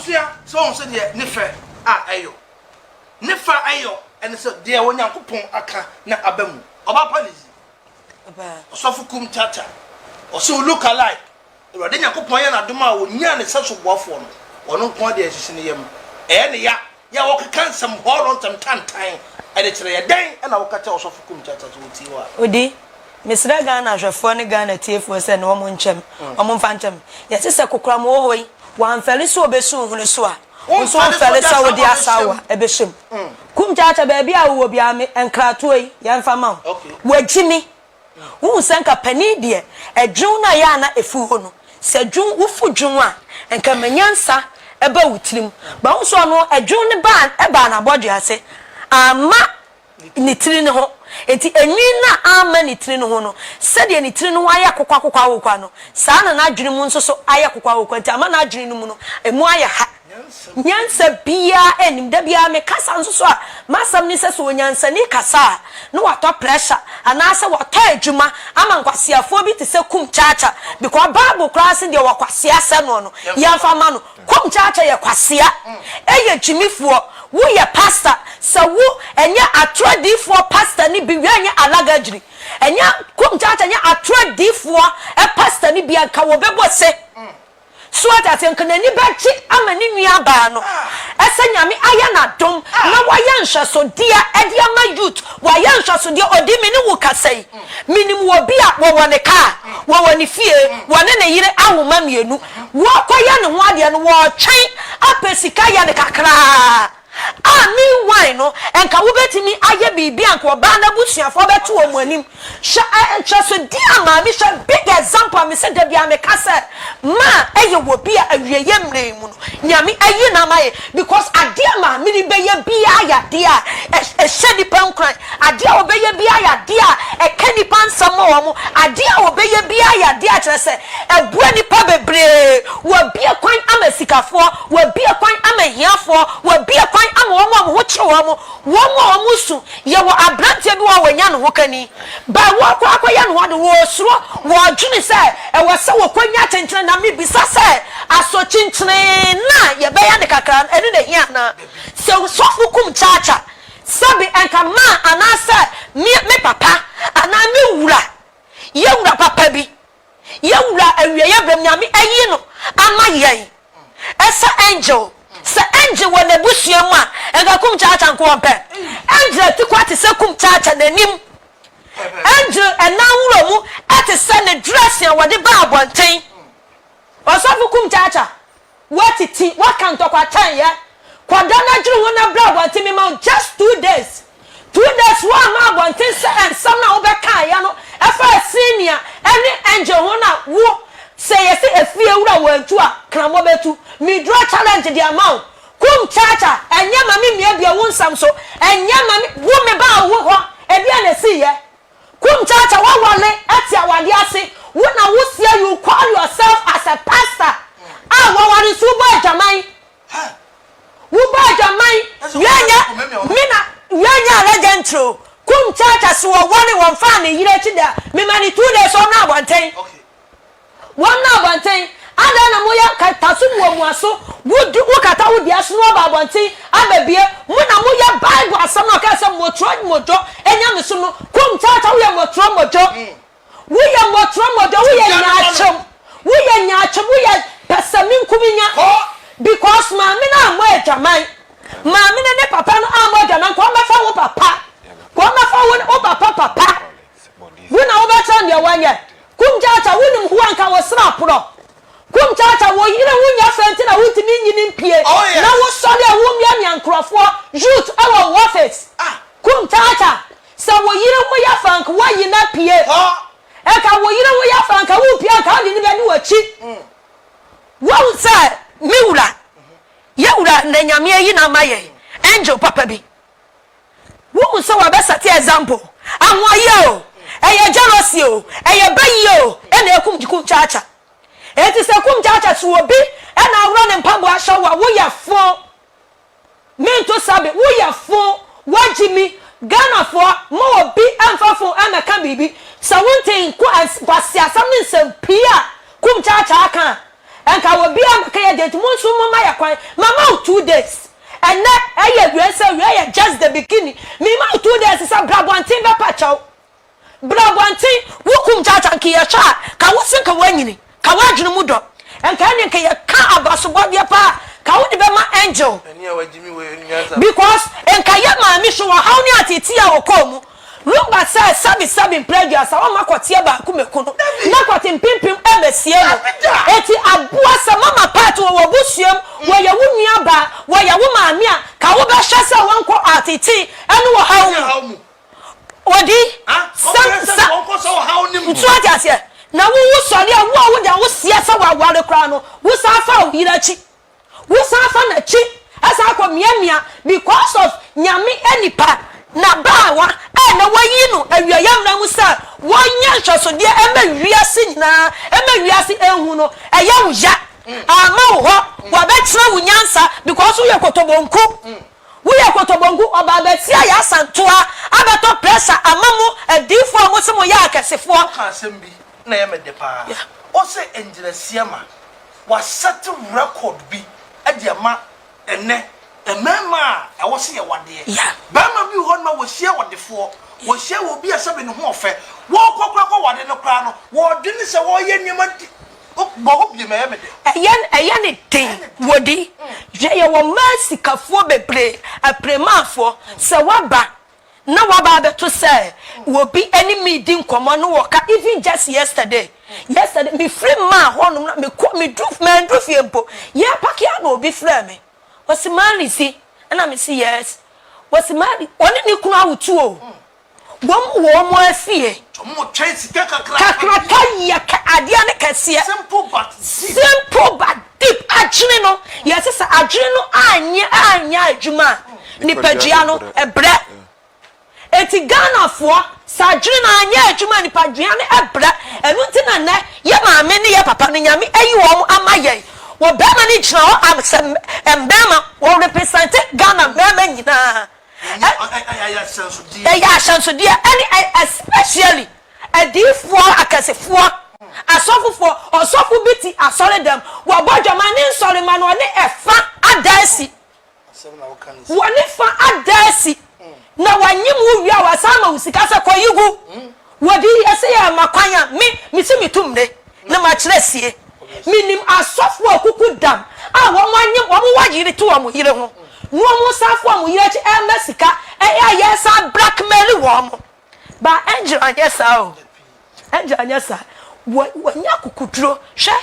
Sua sɛ ɔhu sɛdeɛ ne fɛ a ɛyɔ. Ne fɛ a ɛyɔ ɛne sɛ deɛ Onyankopɔn aka na aba mu. Ɔbaa pa ne yi. Ɔbaa. Ɔsɔfo Kum Tata. Ɔse wo look alike. Awurade Nyankopɔn ayɛ no adom a ɔnyaa ne sɛso boafoɔ no. Ɔno nko ara deɛ ɛsisi ne yam. Ɛyɛ ne ya. Yɛ a wɔkeka nsɛm hɔɔlɔ ntɛm tantan ɛde kyerɛ yɛ. Dɛn na woka kyerɛ Ɔsɔfo Kum Tata sɛ ɔtie wo a? Odi. Mesrɛ Ghana ahwɛfoɔ ne Ghana atiefoɔ sɛ ne wɔn nkyɛ me, wɔn mfa nkyɛ me. Yɛse sɛ kokoram wɔ hɔ yi, wamfɛre sɛ ɔbɛsi wo hwene so a, wo nso womfɛre sɛ wode asaawa bɛhyɛ mu. Kum Kyaakya baabi a wowɔ biara me nkratoɔ yi, yɛmfa ma wo. Wagyi me. Wohu sɛ nka panin deɛ, ɛdwen no ayɛ a na ɛfiri hɔ no. Sɛ dwen, wofu dwen a, nka ma nyansa ba wo tirim. But wohu sɛ ɔno, ɛdwen no baa, ɛbaa n'abɔdwe ase. Amma. ne tiri no ho. Enti enwi no a amma ne tiri no ho no, sɛdeɛ ne tiri no ho ayɛ akokoakoko awokwa no, saa na n'adwene mu nso so ayɛ akokoa awokwa, enti ama n'adwene no mu no, emu ayɛ ha. Nyansa biara nnim. Da biara mekasa nso so a, m'asɛm ne sɛ, sɛ onyansani kasa a, na watɔ pressure, anaasɛ watɔ adwuma ama nkwaseafoɔ bi te sɛ Kum Chacha, because Bible koraa se deɛ ɔwɔ kwasea sɛ noɔ no, yɛmfa mma no. Kom kyaakya yɛ kwasea ɛyɛ gyimifoɔ wo yɛ pastor sɛ wo ɛnyɛ atorɔ diifoɔ pastor no bi wia nyɛ alaga gyiri ɛnyɛ kom kyaakya nyɛ atorɔ diifoɔ ɛ pastor no bia nka wɔ bɛ bɔ se so wate aseɛ nka nani bɛ gye ama ne nua baa no ɛ sɛ nyame ayɛ na dom na wa yɛ nhwɛsodeɛ ɛde ama youth wa yɛ nhwɛsodeɛ ɔdi me ne wo kasa yi Menim obi a wɔwɔ ne kaa, wɔwɔ ne fie, wɔne ne yere awo mma mmienu, wɔrekɔyɛ ne ho adeɛ no, wɔretwɛn apɛ sika yɛ no kakraa a, meanwhile no, nka wobɛtumi ayɛ biribi a nka ɔbaa no abusuafoɔ bɛto wɔn anim. Hwɛ nhwɛsodeɛ a maame, hwɛ big example a mese da biara meka sɛ, Ma ɛyɛ wɔ bi a awieɛ mmerɛ mu no Nyame ayi no ama yɛn because adeɛ a maame no bɛyɛ biara yɛ adeɛ a ɛhyɛ nipa nkuran, adeɛ a ɔbɛyɛ biara yɛ adeɛ a ɛka nipa nsɛm ma wɔn, adeɛ a ɔbɛyɛ biara yɛ adeɛ a kyerɛ sɛ ɛboa nipa bebree, wabue kwan ama asikafoɔ, wabue kwan ama ahiafoɔ, wabue kwan ama wɔn a wɔn ho kye wɔn, wɔn a wɔn su, yɛwɔ aberanteɛ bi wɔ hɔ a wanya ne ho kani. But wɔkɔ akɔyɛ no hɔ no, wɔsuro, wɔdwene sɛ ɛwɔ sɛ wɔkɔnya akyenkyene. Na mebisa sɛ, asɔkyenkyene no a yɛbɛyɛ no kakra no, ɛno na ɛhia anaa? Sɛ sɔfo kum kyakya, sɛbe anka ma anaasɛ me papa anaa me wura, yɛn wura papa bi, Yɛn Wura awieɛ berɛ mu Nyame ayi no ama yɛn sɛ Angel. Sɛ Angel wɔ n'abusua mu a, nka Kum Kyaakya nko ɔpɛ. Angel atikwa te sɛ Kum Kyaakya n'anim. Angel nan wura mu te sɛ ne dressing a wɔde ba abɔnten. Ɔsɔfo Kum Kyaakya. Woatete, woaka ntɔkwatan yɛ. Kɔ da na dwene ho na bra abɔnten. Mema wo just two days. Two days woamma abɔnten sɛ nsɛm no a wobɛkaeɛ no fa Senior ne Angel ho no a wo sɛ yɛse efie wura wantu a kramɔ bɛtu. Me dura challenge de ama wo. Kum Chacha, ɛnyɛ ma me mmiabia wo nsɛm so. Ɛnyɛ ma me, wo mebaa wo hɔ, ɛdeɛn na ɛsiiɛ? Kum Kyaakya wawale te awade ase wo na wo seɛ you call yourself as a pastor a waware nso wobɔ adwaman wobɔ adwaman wia nyɛ me na wia nyɛ ala gentry o Kum Kyaakya so wɔware wɔmfaa ne yere akyi da mema ne two days ɔnɔ abɔnten. Wɔmmra abɔnten! Adɛn na moyɛ nkataso mu wɔ mo aso, wo du, wokata wo dua so na woaba abɔnten abɛbue? Mo na moyɛ Bible asɛm no a ɔkae sɛ, Mmɔtorɔ mmɔdwɔ anya me so no, komm tata, woyɛ mmɔtorɔ mmɔdwɔ, woyɛ mmɔtorɔ mmɔdwɔ, woyɛ nyaatwom, woyɛ nyaatwom, woyɛ pɛsɛmenkominya, because maame no ammɔ adwaman, maame no ne papa no ammɔ adwaman, kɔ mmɛfa wo papa, kɔ mmɛfa wo papa papa. Wo na wobɛkyerɛ no deɛ wɔnyɛ. Kum Kyaakya wonim hoa nka wo sra aporɔ. Kum Kyaakya wo yere ho nyɛ fɛ nti na wontumi nyini mpie na wo sɔre a wo mia mia nkorɔfoɔ youth wɔ wo office. Kum Kyaakya sɛ wo yere ho yɛ fɛ nka woayi no apue. Nka wo yere ho yɛ fɛ nka wopue a nka wode no bɛdi w'akyi. Woahu sɛ me wura yɛ wura na Nyame ayi no ama yɛn angel papa bi. Wohu sɛ wɔbɛ sɛte example. Ahoɔyɛ o, ɛyɛ jealousy o, ɛyɛ bayiyɛ o ɛna ɛkum kumkyakya. Enti sɛ kumkyakya so obi ɛna aworɔ ne mpaboa ahyɛ wo a, woyɛ foo. Mento sabe, woyɛ foo. Wagye mi. Ghanafoɔ, mma obi ɛmfa fon ɛmɛka biribi. Sɛ wontee nkwasiasɛm ne nsɛm pii a kumkyakya aka a, Nka obiara ma kɛyɛ deɛ nti mo nso mo ma yɛ kwan ma ma wo two days ɛnɛ ɛyɛ awiɛ sɛ awiɛ yɛ just the beginning me ma wo two days sɛ bra abɔnten bɛ pa kyɛw bra abɔnten wo kum kyakya nka yɛ hwɛ a ka wo se nka wanyini ka wo adwene mu dɔ nka ɛne nka yɛ ka abasobɔdeɛ paa ka wo de bɛ ma angel because nka yɛ maame so wɔ haw ne ateetea a ɔkɔɔ mu. Ruba sɛ sɛbi sɛbi mprɛ aduasa wɔma kɔteɛ baako mɛku no na kɔte mpempem ɛbɛsie no eti aboa sɛ mama pat wɔ wɔbusuam wɔyɛ wo nua baa wɔyɛ wo maame a ka wobɛhwɛ sɛ wɔnkɔ ɔatete ɛne ɔhaw mu odi sɛ sa nti wate aseɛ na wo wo sɔre a wo a woda wo seɛ sɛ waware koraa no wo san fa wo yere akyi Wo san fa nakyi san kɔ miamia because of Nyame nipa na baawa a na wayi no awia yɛmmra mu sɛ wɔnyɛ nhwɛsodeɛ ɛma wiase nyinaa ɛma wiase ɛnhu no ɛyɛ wo ya amma wo hɔ wabɛkyerɛ wo nyansa because wo yɛ kotobonku wo yɛ kotobonku ɔba abɛtia yɛ asantoa abɛtɔ pressure ama mo adiifoɔ a mo se mo yɛ akɛsefoɔ. Wo ka asɛm bi na ɛyɛ me de paa, wo se ngyinasie ma. Wɔasɛte rekɔd bi de ama ɛnnɛ, mmarima a ɛwɔ sɛ yɛwɔ adeɛ. Barima bi wɔ hɔ nom a wɔhyia ɔdefoɔ, wɔhyia wɔ obi a sɛbe ne ho ɔfɛ, wɔrekɔ koraa kɔ wade no koraa no, wɔredwene sɛ wɔreyɛ nneɛma di, o, bɔ hɔ biom, ɛyɛ me dɛ. Ɛyɛ, ɛyɛ ne den, wɔdi. Hwɛ, yɛwɔ mmaa sikafoɔ bebree, apiremaafoɔ, sɛ woaba na waba abɛto sɛ obi ne me redi nkɔmmɔ na wɔka even just yesterday yesterday mefiri maa hɔnom na mekɔ medu mandu fie mpo yɛpake a na obi frɛ me wɔsi mari si ɛna me si yes wɔsi mari wɔne ne kunu awotu o wɔn wɔ wɔn afie kakraka yɛ adeɛ ne kɛseɛ simple but Deep adwene no, yɛse sɛ adwene no anyɛ anyɛ adwuma a, nipadua no brɛ. Enti Ghanafoɔ, sɛ adwene no anyɛ adwuma a, nipadua no brɛ. Ɛno nti na nnɛ yɛ maame ne yɛ papa no, Nyame ayi wɔn ama yɛn. Wɔ bɛɛma no gyina hɔ am sɛ mbɛɛma, wɔ represente Ghana mmɛɛma nyinaa. Ɛyɛ ahyɛnsodeɛ. Ɛyɛ ahyɛnsodeɛ ɛne especially. Adiyifoɔ akɛsefoɔ, asɔfofoɔ, ɔsɔfo bi te asɔredam, wɔbɔ dwom, ane nsɔremma no, wɔne ɛfa ada asi. Wɔne fa ada asi, na wɔanyem wo wie a, wɔasan ama wo sika sɛ kɔ yi gu. Wɔde yi ɛsɛ yɛ ma kwan a, me, mese metu mmere na makyerɛ asie. Menim asɔfoɔ a kuku dam a wɔanyem, wɔwɔ yere to wɔn yere ho, na wɔsan fa wɔn yere akyi ɛrema sika, ɛyɛ a yɛsan blackmail wɔn. Ba Angel anyɛ saa o. Angel anyɛ saa. Wa, wanya akokoduro. Hwɛ,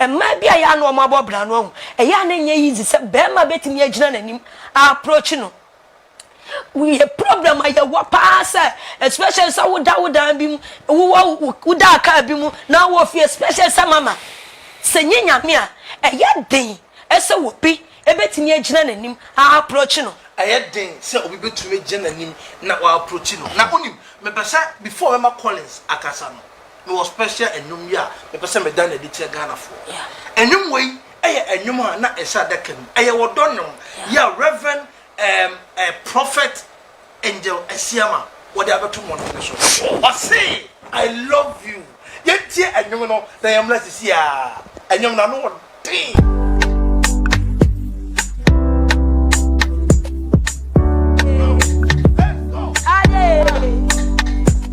mmaa bi a ɛyɛ a na wɔabɔ bra no, wahu. Ɛyɛ a na ɛnyɛ easy sɛ barima bɛtumi agyina n'anim a approach no. Yɛ problem a yɛwɔ paa sɛ, especially sɛ woda wo dan bi mu, wowɔ wo, woda car bi mu na wowɔ fie, especially sɛ mama, sɛ nyɛ Nyame a, ɛyɛ den sɛ obi Ebetumi agyina n'anim aaproakyi no. Ɛyɛ den sɛ obi betumi agyina n'anim na waaproakyi no. Na wunim, mepɛ sɛ before mɛma Collins akasa no, mewɔ special nnwom bi a mepɛ sɛ meda no adi kyerɛ Ghanafoɔ. Nnwom wei yɛ nnwom a na ɛhyɛ adaka mu. Ɛyɛ ɔdɔ nnwom. Yɛ Rev. Prophet angel asia ma wɔde abɛto mmɔnten no so. Ɔse I love you. Yɛntie ɛnwom no na yɛmmra sisi a. Ɛnwom no ano ɔden.